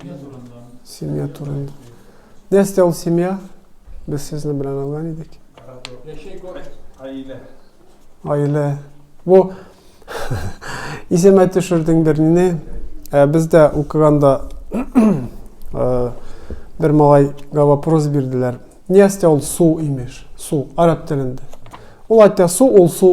Семья турында. Семья турында. Нәрсә ул семья? Без сезне белән алган идек. Яшәй күрәк, гаилә. Гаилә. Бу исемә төшердең берне. Ә бездә укыганда бер малайга вопрос бирделәр. Нәрсә ул су имеш? Су, араб телендә. Ул әйтә су, ул су.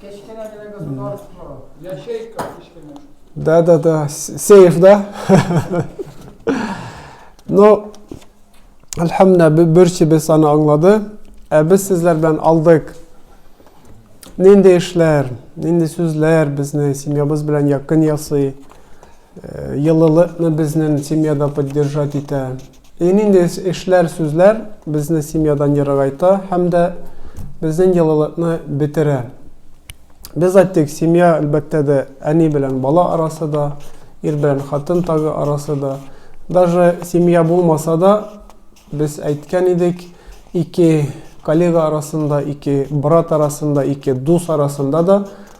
Кечкенә генә государство, ячейка кечкенә. Да-да-да, сейф, да? Ну, әлхәмдә, берсебез аны аңлады. Ә без сезләр белән алдык. Нинди эшләр, нинди сүзләр безне семьябыз белән якын ясый, елылыкны безнең семьяда поддержать итә. И нинди эшләр, сүзләр безне семьядан ерагайта һәм дә безнең йылылыкны бетерә? Без әйттек, семья, әлбәттә дә, әни белән бала арасы да, ир белән хатын тагы арасы да. Даже семья булмаса да, без әйткән идек, ике коллега арасында, ике брат арасында, ике дус арасында да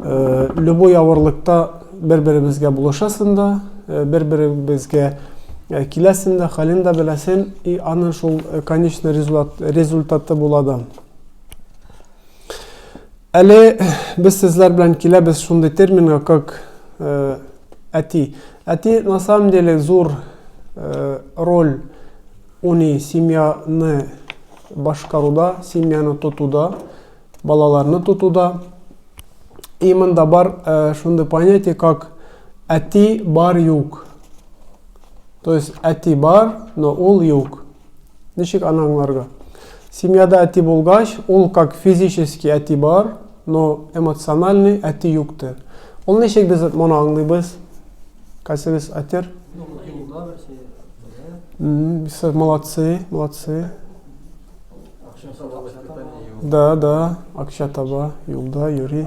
любой авырлыкта бер-беребезгә булышасың да, бер-беребезгә киләсең дә, хәлен дә беләсең, и аны шул конечный результаты була да. Әле без сезләр белән киләбез шундый терминга, как әти. Әти на самом деле зур роль уни семьяны башкаруда, семьяны тотуда. Балаларны тотуда и монда бар э, шундый понятие как әти бар юк. То есть әти бар, но ул юк. Ничек аны аңларга? Семьяда әти булгач, ул как физически әти бар, но эмоциональный әти юктыр. Ул ничек без моны аңлыйбыз? Кайсыгыз әтер? Юлда берсе. Молодцы, молодцы. Да, да, акча таба, юлда йөри.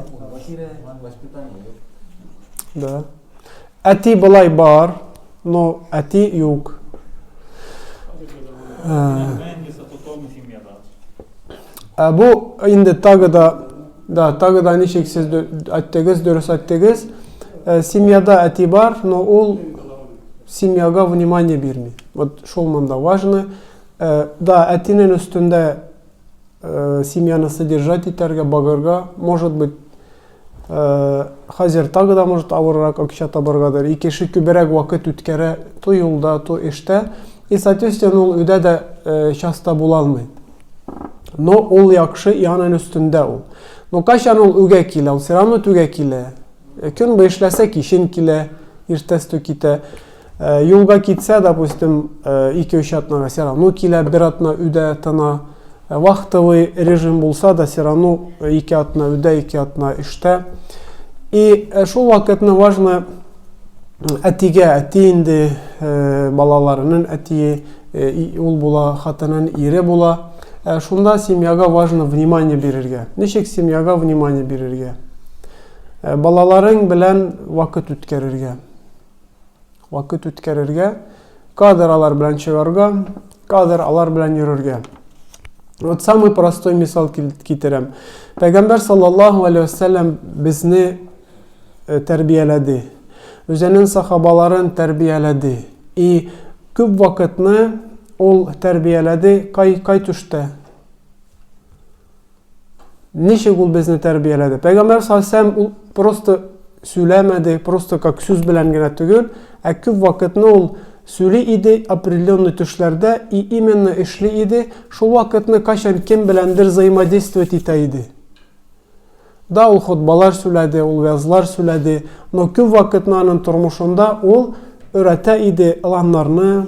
Да. Әти былай бар, но әти юк. Ә бу инде тагы да да тагы да ничек сез әттегез дөрес әттегез ә, семьяда әти бар но ул семьяга внимание бирми вот шул монда важно Э, да, әтинен өстендә э, семьяны содержать итәргә, багырга, может быть, э, хәзер тагы да, может, авыррак акча табаргадыр. И кеше күберәк вакыт үткәрә, то юлда, то эштә. И, соответственно, ул өйдә дә э, часто була алмый. Но ул яхшы, и анын өстендә ул. Но кайчан ул үгә килә, ул все равно түгә килә. Э, көн бу эшләсә, кичен килә, иртәс тө китә. Э, юлга китсә, допустим, э, ике-өч атнага все равно килә, бер атна үдә тына. Э, вахтовый режим булса да, все равно ике атна үдә, ике атна эштә. И шул вакытны важно әтигә, әти инде балаларының әтие, ул була, хатынын ире була. Шунда семьяга важно внимание бирергә. Ничек семьяга внимание бирергә? Балаларың белән вакыт үткәрергә. Вакыт үткәрергә, кадр алар белән чыгарга, кадр алар белән йөрергә. Вот самый простой мисал китерәм. Пәйгамбәр саллаллаху алейхи вассалам безне э, тәрбияләде. Үзенең сахабаларын тәрбияләде. И күп вакытны ул тәрбияләде кай кай төштә? Ничек ул безне тәрбияләде? Пәйгамбәр салләһу ул просто сөйләмәде, просто как сүз белән генә түгел, ә күп вакытны ул сөйли иде определенный төшләрдә и именно эшли иде, шул вакытны кайчан кем беләндер взаимодействовать итә иде. Да, ул хутбалар сөйләде, ул вязлар сөйләде, но күп вакытны аның тормышында ул өйрәтә иде ыланнарны,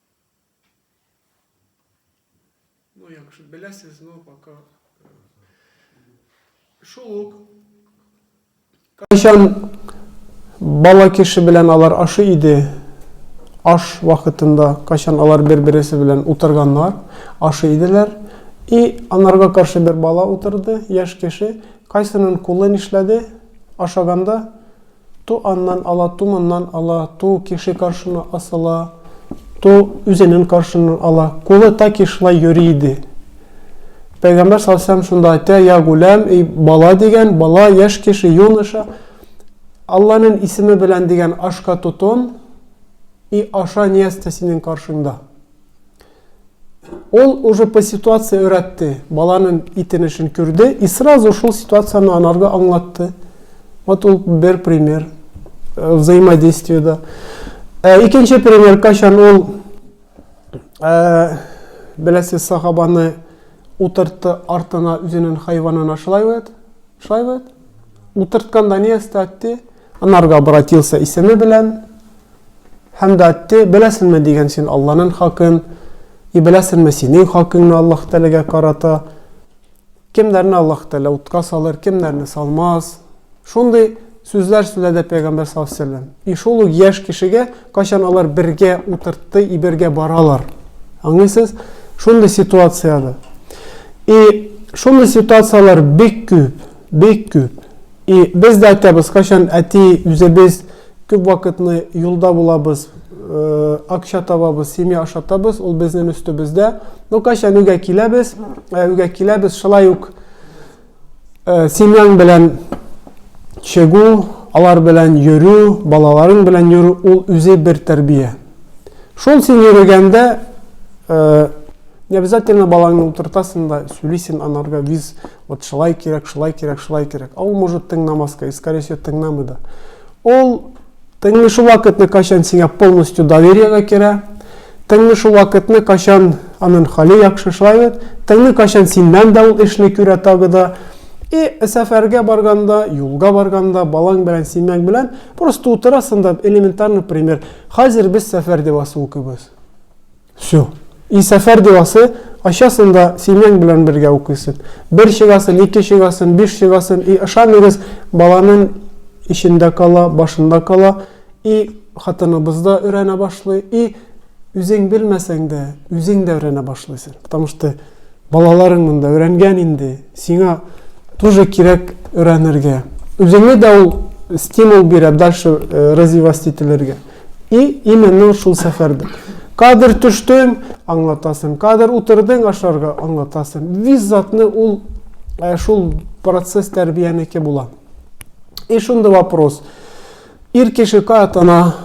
Ну, як же, белясыз, но пока... Э, Шулук. Кайчан бала кеше белән алар ашы иде, аш вакытында, кайчан алар бер-бересе белән утырганнар, ашы иделәр, и анарга каршы бер бала утырды, яш кеше, кайсының кулы нишләде, ашаганда, Ту аннан ала, ту моннан ала, ту кеше каршына асыла, ту үзенен каршыннан ала. Кулы таки шулай йөри иде. Пәйгамбәр салсам шунда әйтә, я гуләм, эй бала дигән, бала, яшь кеше, юноша, Алланын исеме белән дигән ашка тотон и аша нияз тә синең каршыңда. Ул уже по ситуации өйрәтте, баланын итенешен күрде и сразу шул ситуацияне анарга аңлатты. Вот ул бер пример э, взаимодействиеда. Э, икенче пример, качан ул э, беләсез сахабаны утыртты артына үзенең хайванына шулай бит? Шулай бит? Утыртканда ни эстәтте? Анарга обратился исеме белән, Һәм дә әйтте, беләсеңме дигән син Алланың хакын, и беләсеңме синең хакыңны Аллаһ Тәгаләгә карата? Кемнәрне Аллаһ Тәгалә утка салыр, кемнәрне салмас? Шундый сүзләр сөйләде пәйгамбер саллаллаху алейһи вәсәлләм. И шул ук яшь кешегә кайчан алар бергә утыртты и бергә баралар. Аңлыйсыз? Шундый ситуацияда. И шундый ситуацияләр бик күп. Бик күп. И без дә әйтәбез, кайчан әти үзебез күп вакытны юлда булабыз, акча табабыз, семья ашатабыз, ул безнең өстебездә. Ну кайчан өйгә киләбез, өйгә киләбез, шулай ук семьяң белән чыгу, алар белән йөрү, балаларың белән йөрү, ул үзе бер тәрбия. Шул син йөргәндә не обязательно балаңны утыртасың да, сүлисен анарга виз Вот шылай кирәк, шылай кирәк, шылай кирәк. А ул может тыңнамаска, и скорее всего тыңнамый да. Ул тыңлый шул вакытны, качан сиңа полностью довериега керә, тыңлый шул вакытны, качан анын хали яхшы, шулай бит, тыңлый качан синнән дә ул эшли күрә тагы да. И сәфәргә барганда, юлга барганда, балаң белән, синең белән просто утырасың да элементарный пример. Хәзер без сәфәрдә басу кебез. Все. И сәфәр диласы, ачасын да семьяң белән бергә укыйсын. Бер чыгасын, ике чыгасын, биш чыгасын. И ышаныгыз, баланың ишендә кала, башында кала. И хатыныбыз да өйрәнә башлый. И үзең белмәсәң дә, үзең дә өйрәнә башлыйсың. Потому что балаларың монда өйрәнгән инде. Сиңа тоже кирәк өйрәнергә. Үзеңне дә ул стимул бирә дальше э, развивать ителергә. И именно шул сәфәрдә. Кадер төштең, аңлатасың, кадер утырдың ашарга, аңлатасың. Виз затны ул ә, шул процесс тәрбиянеке була. И шундый вопрос. Ир кеше каятана,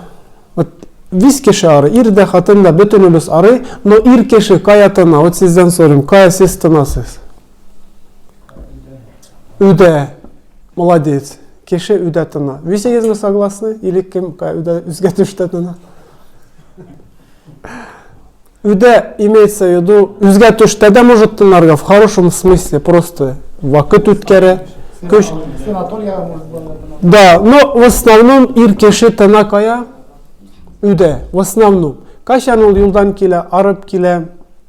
вот виз кеше ары, ир дә, хатын да, бөтенебез ары, но ир кеше каятана, вот сездән сорыйм, кая сез тынасыз? Үдә. Молодец. Кеше үдә тына. Висегезме согласны? Или кем үдә үзгә төштә тына? Үдә имеется в виду, үзгә төштә дә может тынарга, в хорошем смысле, просто вакыт үткәрә. Көч... Да, но в основном ир кеше тына кая? Үдә, в основном. Кайчан ул юлдан килә, арып килә,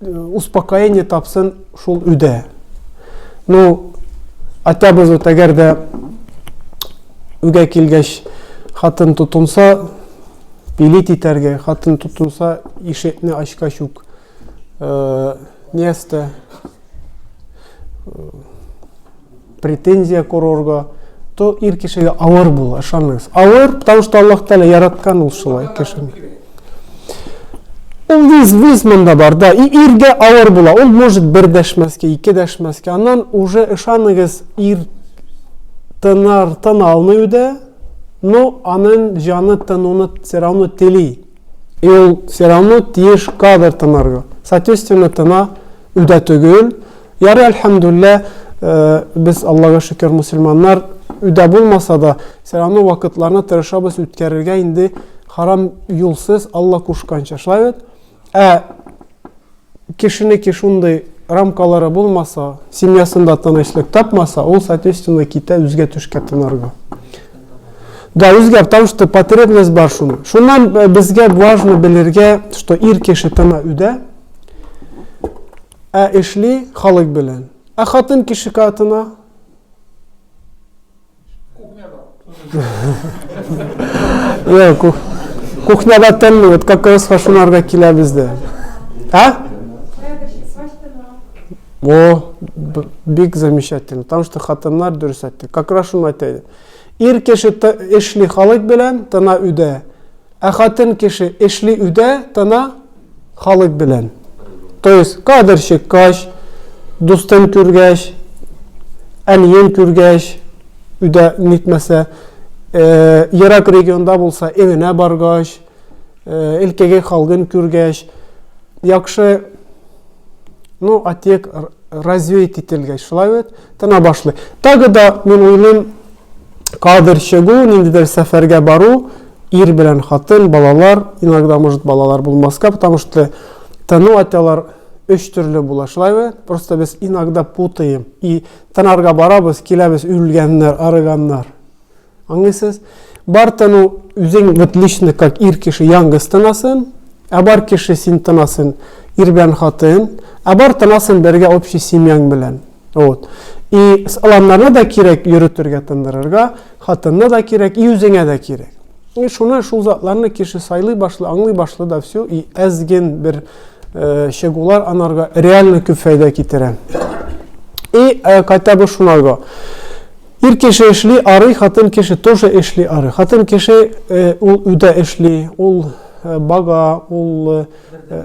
успокоение тапсын шул өйдә. Ну, хотя бы вот әгәр дә өйгә килгәч хатын тотынса, пилит итәргә, хатын тотынса, ишекне ачкач ук э, место э, претензия курорга, то ир кешегә авыр була, ышаныгыз. Авыр, потому что Аллах Тәлә яраткан ул шулай кешене. Ул виз, виз монда бар, да, и иргә авыр була, ул может бер дәшмәскә, ике дәшмәскә, аннан уже ышаныгыз ир тынар, тын алмый үдә, но анын жаны тынуны все равно тели. И ул все равно тиеш кадр тынарга. Соответственно, тына үдә түгел, Ярый әлхәмдүллә, э, без Аллага шөкер мусульманнар, үдә булмаса да, все равно вакытларны тырышабыз үткәрергә инде харам юлсыз Алла кушканча. Шулай бит? Ә кешенеке шундый рамкалары булмаса, семьясында тынычлык тапмаса, ул, соответственно, китә үзгә төшкә тынарга. Да, үзгә, потому что потребность бар шуны. Шуннан э, безгә важно белергә, что ир кеше тына үдә, Ә эшли халык белән. Ә хатын кеше катына? Кухняда. Кухняда тәлли, вот как раз фашунарга килә бездә. А? О, бик замечательно. Потому что хатыннар дөрес әйтте. Как раз шуны әйтә. Ир кеше эшли халык белән, тына үдә. Ә хатын кеше эшли үдә, тына Халык белән. То есть кадр чыккач, дустын күргәч, әниен күргәч, өйдә нитмәсә, э, ерак регионда булса, эвенә баргач, э, илкеге халгын күргәч, яхшы ну, отек развеять ителгәч, шулай бит, тына башлый. Тагы да, мин уйлыйм, кадр чыгу, ниндидер сәфәргә бару, ир белән хатын, балалар, иногда может балалар булмаска, потому что тыну атялар өч төрле була шулаймы просто без иногда путаем и тынарга барабыз киләбез үлгәннәр арыганнар аңлыйсыз бар тыну үзең вот лично как ир кеше яңгыз тынасын ә бар кеше син тынасын ир белән хатын ә бар тынасын бергә общий семьяң белән Вот. И аланнарны да кирәк йөрөтергә, тындырырга, хатынны да кирәк, и үзеңә дә кирәк. И шуны шул затларны кеше сайлый башлы, аңлый башлы да все, и әзген бер э, чыгулар анарга реально күп файда китерә. И э, кайта бу шунарга. Ир кеше эшли арый, хатын кеше тоже эшли арый. Хатын кеше э, ул үдә эшли, ул э, бага, ул э,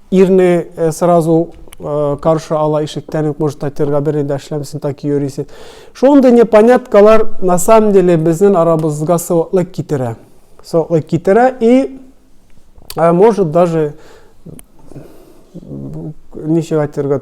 Ирне э, сразу э, каршы ала ишектән үк может татирга берни дә эшләмисең так йөрисең шундый непоняткалар на самом деле безнең арабызга сылыклык китерә сылыклык китерә и э, может даже ничек әйтергә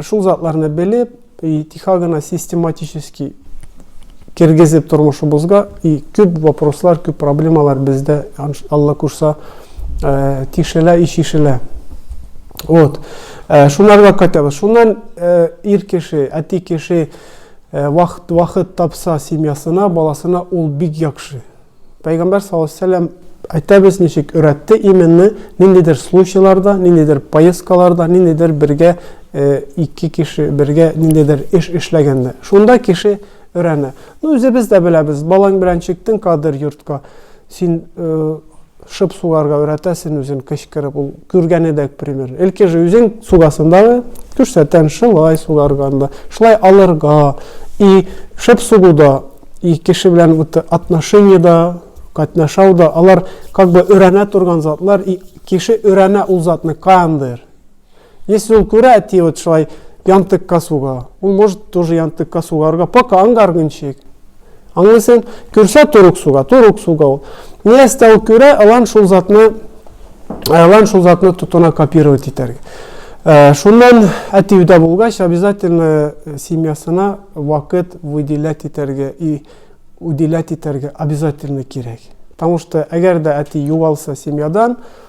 Шул затларны белеп и тихо гына систематически кергезеп тормышыбызга и күп вопрослар, күп проблемалар бездә Алла кушса э, тишелә и шишелә. Вот. Э, шунарга кайтабыз. Шуннан э, ир кеше, әти кеше вакыт вакыт тапса семьясына, баласына ул бик яхшы. Пәйгамбәр саллаллаһу алейһи ва сәлләм әйтәбез ничек өйрәтте именно ниндидер случайларда ниндидер поездкаларда ниндидер бергә э, ике кеше бергә ниндидер эш эшләгәндә шунда кеше өйрәнә ну үзебез дә беләбез балаң белән чиктең кадер йортка син э, Шып сугарга өйрәтә син үзен кычкырып ул күргәне дә пример элки же үзең сугасын дагы күрсәтән шылай сугарганда шылай алырга и шып сугуда и кеше белән вот отношениеда катнашауда алар как бы өйрәнә торган затлар и кеше өйрәнә ул затны кандыр Если он күрә әти вот шулай янтыкка суга, он может тоже янтыкка сугарга, пока ангаргынчык. Аңлыйсың? Күрсә торук суга, торук суга ул. Ни әстә ул күрә, алан шул затны, алан шул затны тотына копировать итәргә. Э, шуннан әти өйдә булгач, обязательно э, семьясына вакыт выделять итәргә и уделять итәргә обязательно кирәк. Потому что әгәр дә әти югалса семьядан,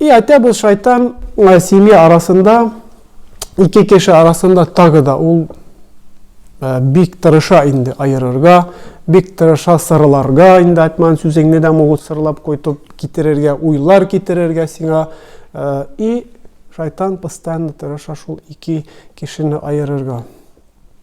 И әйтә бул шайтан семья арасында ике кеше арасында тагы да ул э, бик тырыша инде аерырга бик тырыша сырларга инде айтман сүзеңне дә могут сырлап койтып китерергә уйлар китерергә сиңа э, и шайтан постоянно тырыша шул ике кешене аерырга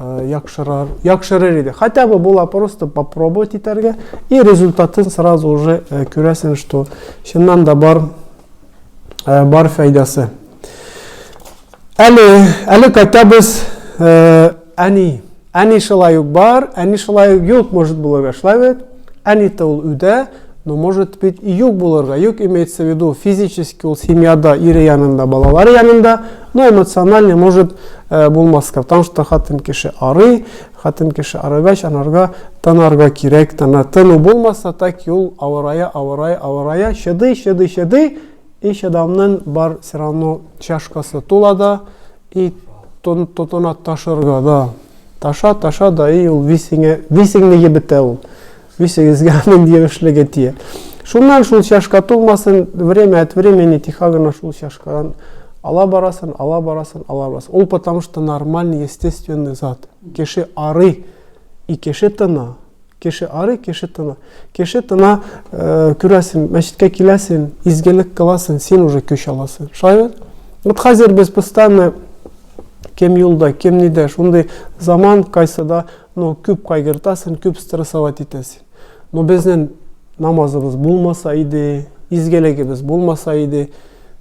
яхшырар, яхшырыр иде. Хотя бы була просто попробовать итәргә и результатын сразу уже күрәсен, что чыннан да бар бар файдасы. Әле, әле хотя бы әни, әни шулай ук бар, әни шулай ук юк, может булырга шулай бит. Әнита ул үдә, но может быть и юк булырга, юк имеется в виду физически ул семьяда, ире янында, балалары янында, но эмоциональный может э, булмаска, потому что хатын кеше арый, хатын кеше арыгач, анарга тынарга кирәк, тына, тыну булмаса, так ул авырая, авырая, авырая, чыдый, чыдый, чыдый, и чыдамнын бар все равно чашкасы тула да, И тон тотына ташырга да. Таша, таша да и ул висеңе, висеңне ебетә ул. Висегезгә аның ебешлеге тия. Шуннан шул чашка тулмасын, время от времени тихо гына шул чашкадан ала барасын, ала барасын, ала барасын. Ул потому что нормальный, естественный зат. Кеше арый, и кеше тына. Кеше арый, кеше тына. Кеше тына, э, күрәсен, мәчеткә киләсен, изгелек кыласын, син уже көч аласын. Шулай бит? Вот хәзер без постоянно кем юлда, кем нидә, шундый заман кайсыда, ну, күп кайгыртасын, күп стрессовать итәсен. Но безнең намазыбыз булмаса иде, изгелегебез булмаса иде,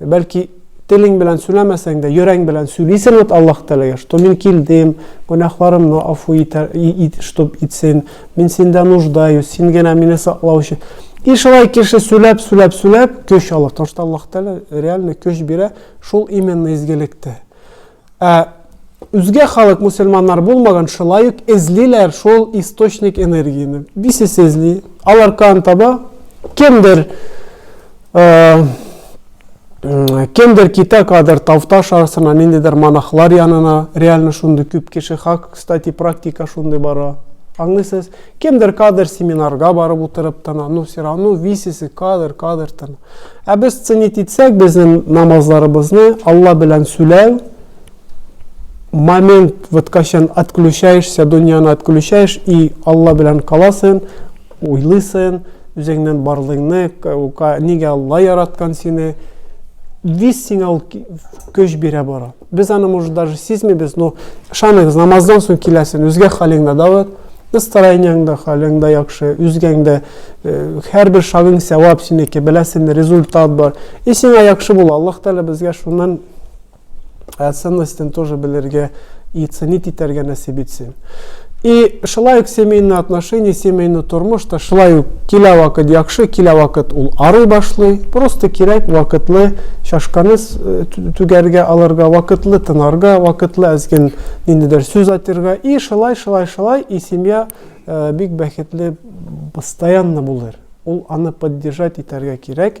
Бәлки телең белән сүләмәсәң дә, йөрәң белән сүлисең вот Аллаһ Тәгаләгә, что мин килдем, гөнаһларымны афу итәр, чтоб итсен, мин синдә нуждаюсь, син генә мине саклау өчен. И шулай кеше сүләп, сүләп, сүләп көч алыр. Потому что Аллаһ Тәгалә реально көч бирә, шул именно изгелектә. Ә үзгә халык, мусульманнар булмаган, шулай ук эзлиләр шул источник энергияне. Бисес эзли, алар кан таба, кемдер кемдер китә кадәр тавташ арасына ниндидер монахлар янына реально шундый күп кеше хак кстати практика шундый бара аңлыйсыз Кемдер кадр семинарга барып утырып тына, ну все равно висесы кадр, кадр тына. Ә без ценить итсәк, безнең намазларыбызны Алла белән сүләү, момент, вот качан отключаешься, дөньяны отключаешь, и Алла белән каласың, уйлыйсың, үзеңнән барлыгыңны, нигә Алла яраткан сине, вис сиңа ул көч бирә бара. Без аны, может, даже сизмибез, но ышаныгыз, намаздан соң киләсен, үзгә хәлең дә давыт, настроениең дә, хәлең дә яхшы, үзгәң дә, һәрбер шагың сәвап синеке, беләсен, результат бар. И сиңа яхшы була, Аллаһ Тәгалә безгә шуннан ценностен тоже белергә и ценить итәргә нәсиб итсен. И шулай ук семейный отношение, семейный тормыш та шулай ук килә вакыт яхшы, килә вакыт ул арый башлый. Просто кирәк вакытлы чашканы э, түгәргә алырга, вакытлы тынарга, вакытлы әзген ниндидер сүз атырга. И шулай, шулай, шулай, и семья э, бик бәхетле постоянно булыр. Ул аны поддержать итәргә кирәк.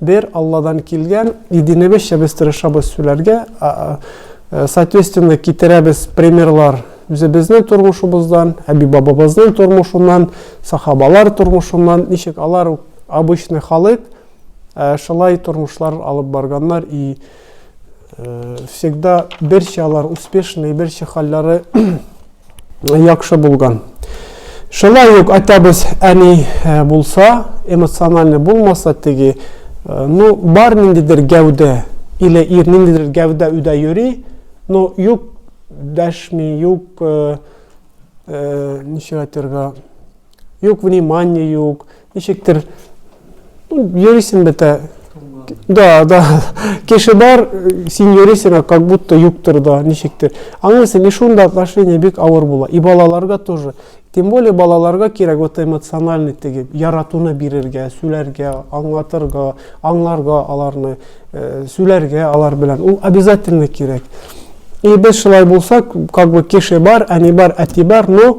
Бер Алладан килгән, и динебезчә без тырышабыз сүләргә, соответственно китерәбез примерлар үзебезнең тормышыбыздан, әби-бабабызның тормышыннан, сахабалар тормышыннан, ничек алар обычный халык, шулай тормышлар алып барганнар и Э, всегда берче алар успешный, берче хәлләре яхшы булган. Шулай ук атабыз әни э, булса, эмоциональный булмаса теге, э, ну бар ниндидер гәүдә или ир ниндидер гәүдә үдә йөри, но юк дәшми, юк ничә әйтергә, юк внимание юк, Ничектер йөрисең бетә. Да, да. Кеше бар, син йөрисең, как будто юктыр да, ничектер. Аңлыйсың, и шунда отношение бик авыр була. И балаларга тоже. Тем более балаларга кирәк вот эмоциональный теге яратуны бирергә, сүләргә, аңлатырга, аңларга аларны, э, сүләргә алар белән. Ул обязательно кирәк. И без шулай булса, как бы кеше бар, әни бар, әти бар, но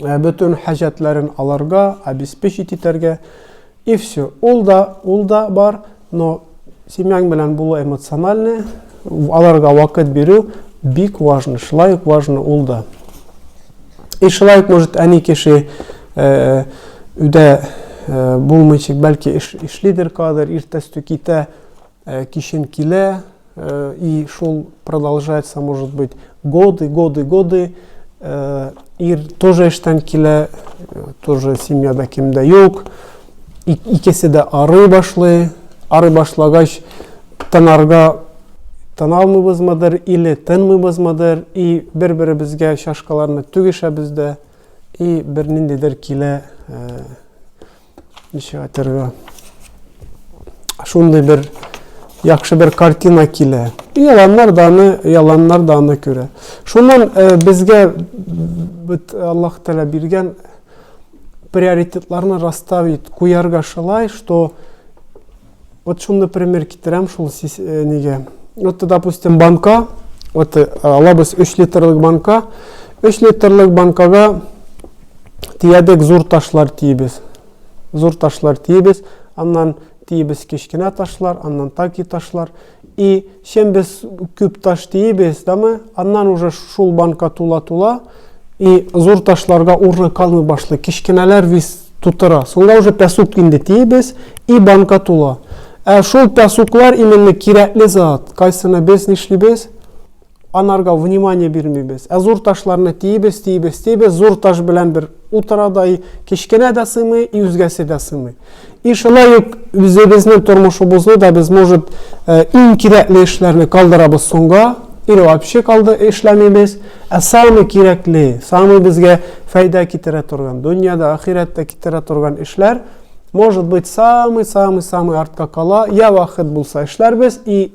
Ә бөтен хаҗәтләрен аларга обеспечить итәргә. И все. Ул да, ул да бар, но семьяң белән булу эмоциональный, аларга вакыт бирү бик важно, шулай ук важно ул да. И шулай ук, может, әни кеше э, өйдә э, булмыйчык, бәлки эш, эшлидер кадер, иртәстү китә, Э, кичен килә, э, и шул продолжается, может быть, годы, годы, годы. Э, ир тоже эштән килә, тоже семьяда кемдә юк. Икесе дә арый башлый. Арый башлагач, тынарга тыналмыйбызмыдыр, или тынмыйбызмыдыр, и бер-беребезгә чашкаларны түгешәбез дә, и бер ниндидер килә Ничек әйтергә? Шундый бер яхшы бер картина килә. Яланнар да аны, яланнар да аны күрә. Шуннан э, безгә бит Аллаһ Тәгалә биргән приоритетларны расставить, куярга шулай, что Вот шуны пример китерәм шул сис, э, нигә. Вот, допустим, банка, вот э, алабыз 3 литрлык банка, 3 литрлык банкага тиядек зур ташлар тиебез. Зур ташлар тиебез, аннан тиебез кечкенә ташлар, аннан таки ташлар. И чем без күп таш тиебез, да мы, аннан уже шул банка тула-тула, и зур ташларга урны калмый башлый, кечкенәләр вис тутыра. Сонда уже пясук инде тиебез, и банка тула. Ә шул пясуклар именно кирәкле зат, кайсыны без нишлибез? Анарга внимание бирмибез. Ә зур ташларны тиибез, тиибез, тиибез, зур таш белән бер утыра да и кечкенә дә сыймый, и үзгәсе дә сыймый. И шулай ук үзебезнең тормышыбызны да без, может, иң кирәкле эшләрне калдырабыз соңга, или вообще калды эшләмибез, ә самый кирәкле, самый безгә файда китерә торган, дөнья да, ахирәт тә китерә торган эшләр, может быть, самый, самый, самый артка кала, я вахыт булса эшләрбез и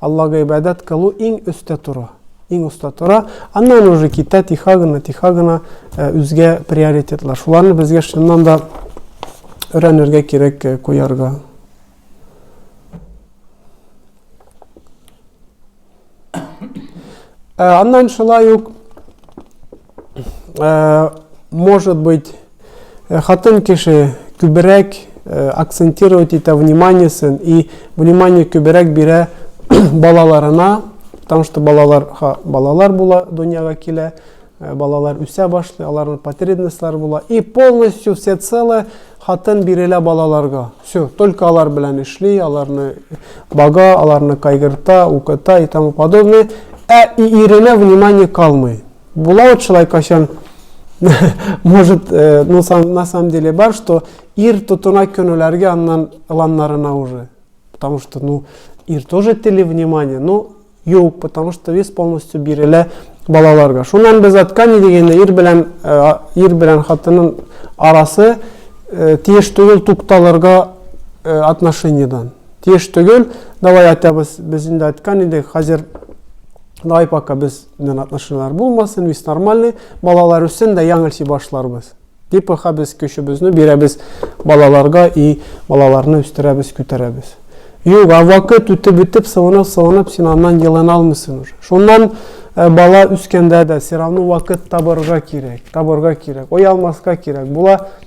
Аллага ибадәт кылу иң өстә тора. Иң оста тора. Аннан уже китә тиха гына, тиха гына э, үзгә приоритетлар. Шуларны безгә чыннан да өйрәнергә кирәк э, куярга. Э, аннан шулай ук, э, может быть, Э, хатын кеше күбрәк э, акцентировать итә вниманиесен и внимание күбрәк бирә балаларына, потому что балалар, ха, балалар була, дөньяга килә, э, балалар үсә башлый, аларның потребностьлары була. И полностью все целое хатын бирелә балаларга. Все, только алар белән эшли, аларны бага, аларны кайгырта, укыта и тому подобное. Ә и иренә внимание калмый. Була вот шулай кайчан, может, э, ну, сам, на самом деле бар, что ир тотына көнеләргә аннан ыланнарына уже. Потому что, ну, ир тоже тели внимание, но юк, потому что вес полностью бирелә балаларга. Шуннан без аткани дигәндә ир белән э, ир белән хатынның арасы э, тиеш түгел тукталырга э, отношениедан. Тиеш түгел, давай атабыз без инде аткан идек, хәзер давай пока без Мен отношенияләр булмасын, весь нормальный, балалар өчен дә яңылчы башларбыз. Дип аха без көчебезне бирәбез балаларга и балаларны үстерәбез, күтәрәбез. Юк, а вакыт үтеп үтеп, сылынып, сылынып, син аннан елын алмыйсың уже. Шуннан э, бала үскәндә дә, все равно вакыт табырга кирәк, табырга кирәк, оялмаска кирәк. Була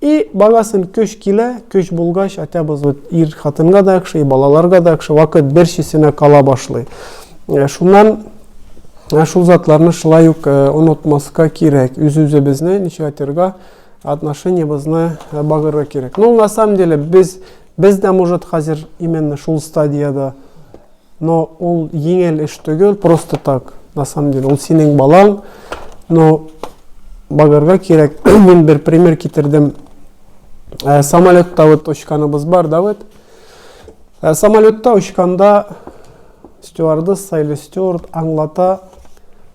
И барасың көч килә, көч булгач атябыз ут ир хатынга да яхшы, и балаларга да яхшы, вакыт бер чисенә кала башлый. Шуннан шул затларны шулай ук онытмаска кирәк, үз-үзебезне ничек атырга, отношениебызны багырга кирәк. Ну, на самом деле, без, без дә, может, хәзер именно шул стадияда Но ул еңел эш төгел, просто так, на самом деле, ул синең балаң, но багарга кирәк, мин бер пример китердем, ә, самолетта вот очканыбыз бар, да вот, ә, самолетта очканда стюардесса или стюард аңлата,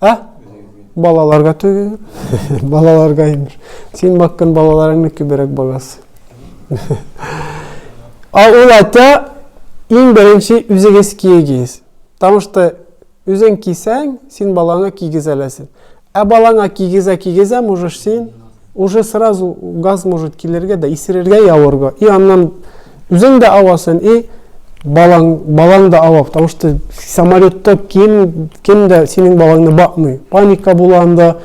А? Балаларга түгел. Балаларга имеш. Син баккан балаларыңны күбрәк багас. А ул ата иң беренче үзегез киегез. Потому что үзең кисәң, син балаңа кигез әләсен. Ә балаңа кигезә кигезә можешь син Уже сразу газ может килергә дә, исерергә и авырга. И аннан үзең дә авасын, и балаң, балаң да ава. Потому что самолетта кем, кем дә синең балаңны бакмый. Паника була анда.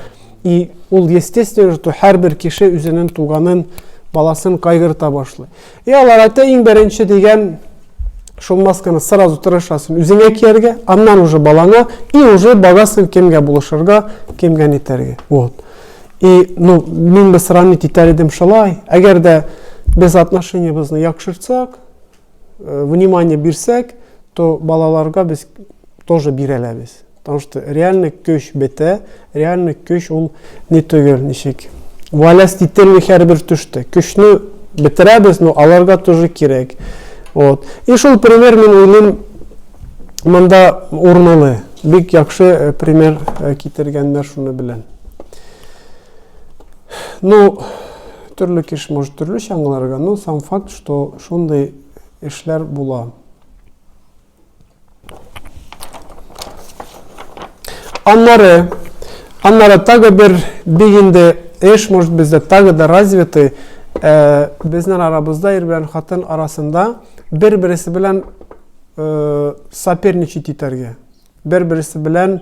И ул естественно, что һәрбер кеше үзенең туганын, баласын кайгырта башлый. И алар әйтә иң беренче дигән шул масканы сразу тырышасың үзеңә кияргә, аннан уже балаңа и уже барасың кемгә булышырга, кемгә нитәргә. Вот. И ну, мин бы сравнить итәр идем шулай. Әгәр дә без отношениебезне яхшыртсак, э, внимание бирсәк, то балаларга без тоже бирәләбез. Потому что реальный көч бетә, реальный көч ул ни түгел, ничек. Валяс тителми һәрбер төштә. Көчне бетерәбез, но аларга тоже кирәк. Вот. И шул пример мин уйлыйм, монда урынлы. Бик яхшы э, пример э, китергәннәр шуны белән. Ну, төрле кеш может төрлечә аңларга, но сам факт, что шундый эшләр була. Аннары, аннары тагы бер бик инде эш, может бездә тагы да развитый, э, безнең арабызда ир белән хатын арасында бер-берсе белән э, соперничать итәргә, бер-берсе белән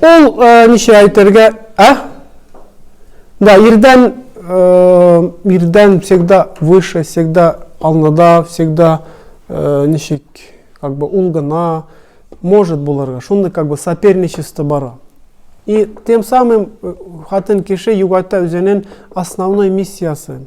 Ул ничә әйтергә, ә? Да, ирдән ирдән всегда выше, всегда алдыда, всегда ничек, как бы ул гына может булырга. Шундый как бы соперничество бара. И тем самым хатын кеше югата үзенең основной миссиясен.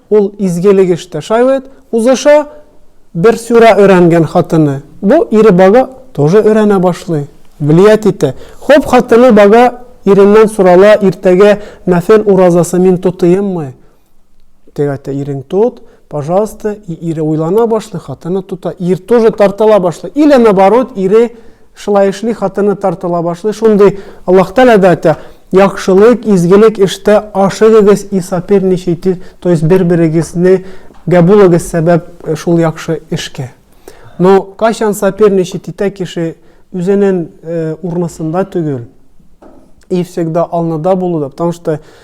Ул изгелек эштә шаиет узыша, бер сүрә өйрәнгән хатыны бу ире бага тоже өйрәнә башлый, влиять итә. Хоп хатыны бага иреннән сорала, иртәгә нәфел уразасы мин тотыйммы? Теге әйтә, ирең тот, пожалуйста, и ире уйлана башлый, хатыны тота, ир тоже тартыла башлый, или наборот ире Шулай эшли, хатыны тартыла башлый. Шундый Аллаһ Тәгалә дә әйтә, яхшылык, изгелек эштә ашыгыгыз и соперничайте, то есть бер-берегезне гә булыгыз сәбәп э, шул яхшы эшкә. Но кайчан соперничать итә кеше үзенең э, урнысында түгел и всегда алныда булуда, потому что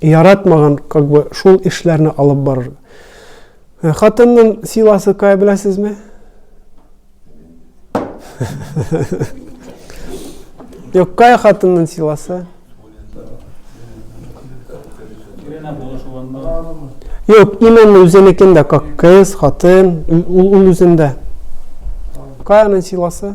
яратмаган как бы шул эшләрне алып барыр. Э, хатынның силасы кая беләсезме? Юк, кая хатынның силасы? Юк, именно үзенекендә, как кыз, хатын, ул, ул үзендә. Кая аның силасы?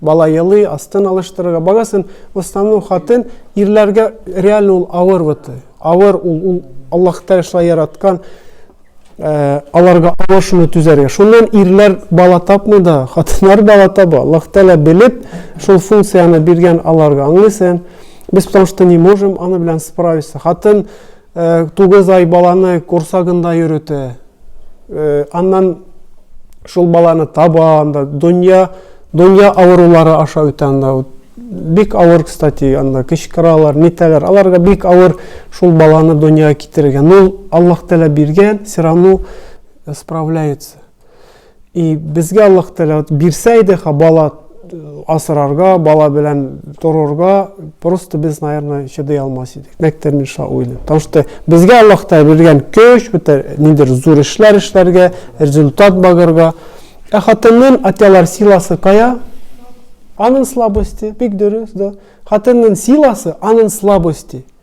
бала елый, астын алыштырырга барасын, в основном хатын ирләргә реально ул авыр вот, авыр ул, ул Аллаһ Тәгалә яраткан э, аларга авыр шуны түзәргә. Шуннан ирләр бала тапмый да, хатыннар бала таба. Аллаһ Тәгалә белеп, шул функцияне биргән аларга. Аңлыйсың? Без потому что не можем аны белән справиться. Хатын Тугыз ай баланы корсагында йөрете. Аннан шул баланы таба, анда дөнья, дөнья авырулары аша үтә анда. Бик авыр, кстати, анда кычкыралар, нитәләр. Аларга бик авыр шул баланы дөньяга китерергә. Ну, Аллаһ Тәгалә биргән, все равно справляется. И безгә Аллаһ Тәгалә вот бирсә иде ха бала э, асрарга, бала белән торырга, просто без, наверное, чыдый алмас идек. Мәктәп мин шулай уйлыйм. Потому что безгә Аллаһ Тәгалә биргән көч, бетер ниндер зур эшләр эшләргә, результат багырга. Ә хатыннын атялар силасы кая? Анын слабости, бик дөрес, да. Хатыннын силасы анын слабости.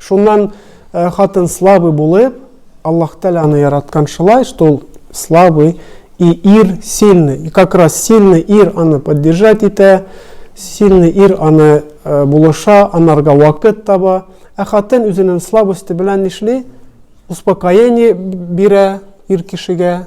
Шуннан э, хатын слабый булып, Аллаһ Тәлә аны яраткан шулай, что ул слабый, и ир сильный. И как раз сильный ир аны поддержать итә, сильный ир аны э, булыша, анарга вакыт таба. Ә хатын үзенең слабости белән нишли? Успокоение бирә ир кешегә,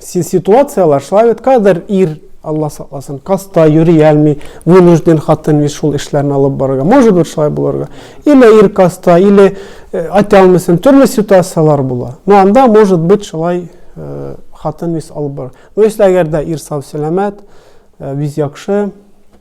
ситуацияләр шулай бит кадәр ир алла сакласын каста йөри алмый вынужден хатын бит шул эшләрне алып барырга может быть шулай булырга или ир каста или э, айта алмыйсың төрле ситуациялар була но анда может быть шулай э, хатын бит алып бар но если әгәр дә ир сау сәламәт э, бит яхшы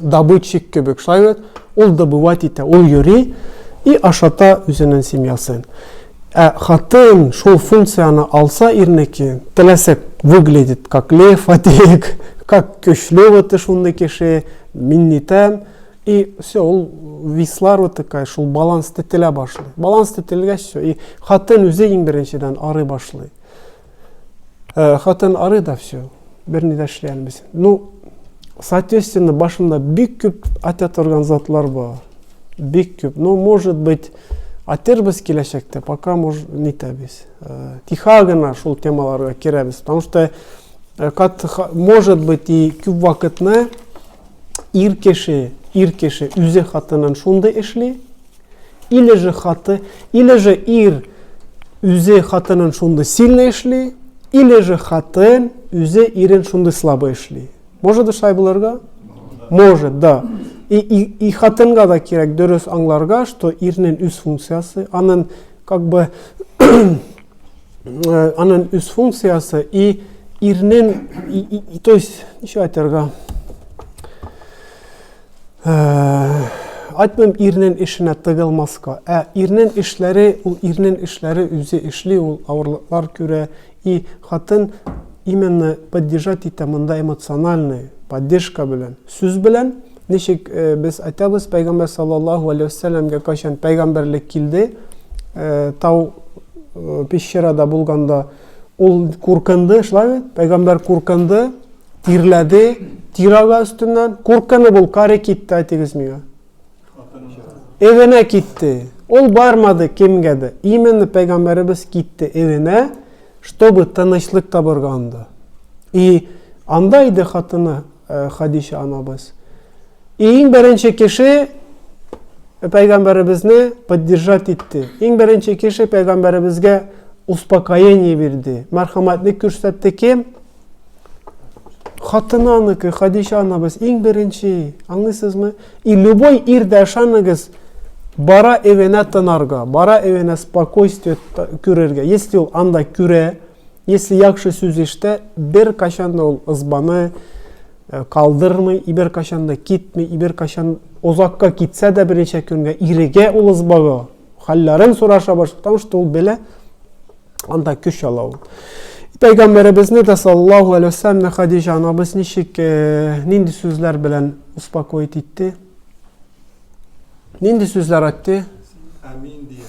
добытчик кебек шулай бит ул добывать итә ул йөри и ашата үзенең семьясын ә хатын шул функцияне алса ирнеке теләсә выглядит как лев атек как көчле вот шундый кеше мин нитәм и все ул вислар вот такая шул баланс тетелә башлый баланс тетелгәч все и хатын үзе иң беренчедән арый башлый Э, хатын ары да все берни дә эшли алмыйсың ну соответственно башымда бик күп ата торган затлар бар бик күп ну может быть атербез киләчәктә пока может нитәбез э, тихо гына шул темаларга керәбез потому что э, кат может быть и күп вакытны ир кеше ир кеше үзе хатынын шундый эшли Или же хаты, или же ир үзе хатынын шундый сильно эшли, или же хатын үзе ирен шундый слабо эшли. Может да шулай булырга? Может, да. И, и, и хатынга да кирәк дөрес аңларга, что ирнен үз функциясы, анын как бы э, анын үз функциясы и ирнен, и, и, и, то есть, ничего айтырга, Айтмыйм ирнен эшенә тыгылмаска, ә ирнен эшләре, ул ирнен эшләре үзе эшли, ул авырлыклар күрә, и хатын именно поддержать итә монда эмоциональный поддержка белән, сүз белән, ничек э, без айтабыз пәйгамбәр саллаллаху алейхи вассаламга кайчан пәйгамбәрлек килде, э, тау э, пещерада булганда Ул куркынды, шулай бит? Пәйгамбәр куркынды, тирләде, тир ага өстеннән. Куркынып ул каре китте, әйтегез миңа. Эвенә китте. Ул бармады кемгә дә. Именно пәйгамбәребез китте эвенә, чтобы тынычлык табырга анда. И анда иде хатыны э, Хадиша анабыз. Иң беренче кеше пәйгамбәребезне поддержать итте. Иң беренче кеше пәйгамбәребезгә успокоение бирде. Мәрхәмәтлек күрсәтте кем? Хатыны аныкы, Хадиша анабыз иң беренче. Аңлыйсызмы? И любой ир дә ышаныгыз, бара эвенә тынарга, бара эвенә спокойствие күрергә. Если ул анда күрә, если яхшы сүз иштә, бер кашанда ул ызбаны, Э, калдырмый ибер качан да китми ибер качан озакка китсә дә берничә көнгә иреге ул ызбагы хәлләрен сораша башлый потому что ул белә анда көч ала ул пәйгамбәребезне дә саллаллаху алейхи вассаламны хадижа анабыз ничек э, нинди сүзләр белән успокоить итте нинди сүзләр айтты әмин дия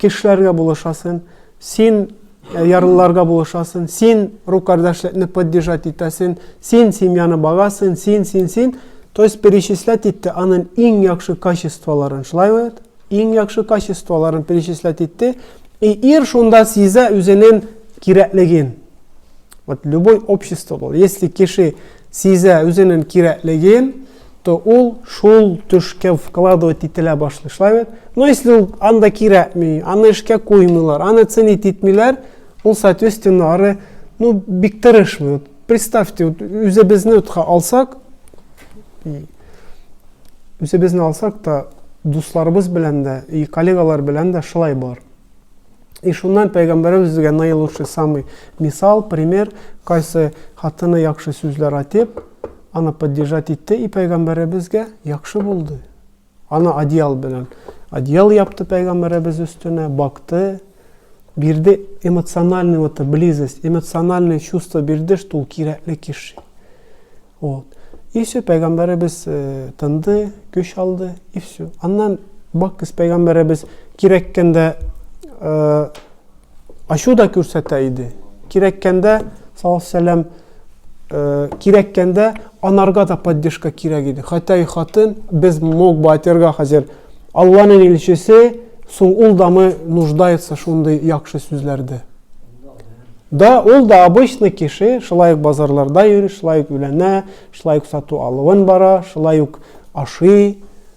кешеләргә булышасын, син э, ярлыларга булышасын, син рукардашлекне поддержать итәсен, син семьяны багасын, син, син, син. То есть перечислять итте анын иң яхшы качестволарын, шулай бит? Иң яхшы качестволарын перечислять итте. И ир шунда сизә үзенен кирәклеген. Вот любой общество был. Если кеше сизә үзенен кирәклеген, то ул шул төшкә вкладывать ителә башлый, шулай бит? Но ну, если ул анда кирәкми, аны эшкә куймыйлар, аны ценить итмиләр, ул, соответственно, ары, ну, бик тырышмый. Представьте, үзебезне утка алсак, үзебезне алсак та, дусларыбыз белән дә, и коллегалар белән дә шулай бар. И шуннан пәйгамбәребез безгә наилучший самый мисал, пример, кайсы хатыны яхшы сүзләр айтып, Аны поддержать итте и пәйгамбәребезгә яхшы булды. Аны одеял белән одеял япты пәйгамбәребез өстенә, бакты, бирде эмоциональный вот близость, эмоциональное чувство бирде, что ул кирәкле кеше. Вот. И все, пәйгамбәребез э, тынды, көч алды, и все. Аннан бакыз пәйгамбәребез кирәккәндә э, Ачу да күрсәтә иде. Кирәккәндә, салавсәләм, кирәккәндә анарга да поддержка кирәк иде. Хәтәй хатын, без мог бы атерга хәзер Алланың илчесе, соң ул да мы нуждается шундый яхшы сүзләрдә. Да, ул да обычный кеше, шулай ук базарларда йөри, шулай ук үләнә, шулай ук сату-алуын бара, шулай ук ашый,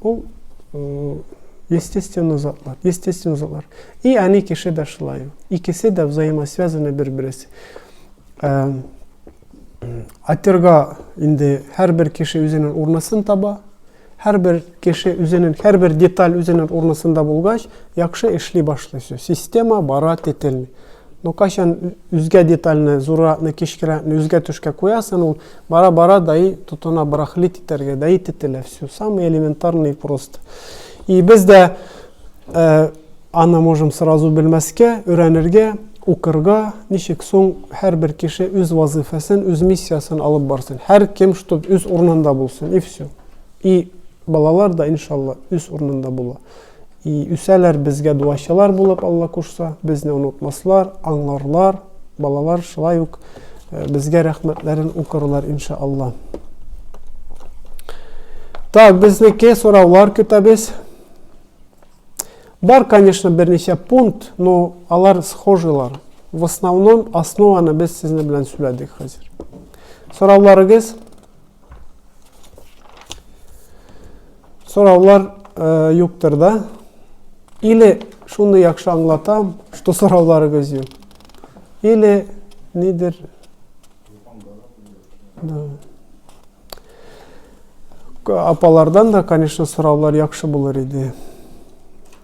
Ул естественно затлар, естественно затлар. И они кеше дә шулай. Икесе дә взаимосвязаны бер-берсе. Атерга инде һәрбер кеше үзенең урнысын таба. Һәрбер кеше үзенең һәрбер деталь үзенең урнысында булгач, яхшы эшли башлый. Система бара тетелми. Но кайчан үзгә детальне, зурракны, кечкерәкне үзгә төшкә куясың, ул Бара бара даи тотына брахлит итәргә даи тетелә все самый элементарный просто и без дә аны можем сразу белмәскә өйрәнергә укырга ничек соң һәрбер кеше үз вазыйфасын үз миссиясын алып барсын һәр кем чтоб үз урынында булсын и все и балалар да иншалла үз урынында була И үсәләр безгә дуачылар булып, Алла кушса, безне онытмаслар, аңларлар, балалар шулай ук э, безгә рәхмәтләрен укырлар иншалла. Так, безнеке сораулар көтәбез. Бар, конечно, берничә пункт, но алар схожилар. В основном основаны без сезнең белән сөйләдек хәзер. Сорауларыгыз Сораулар э, юктыр да? Или шуны яхшы аңлатам, что сорауларыгыз юк. Или нидер... Да. Апалардан да, конечно, сораулар яхшы булыр иде.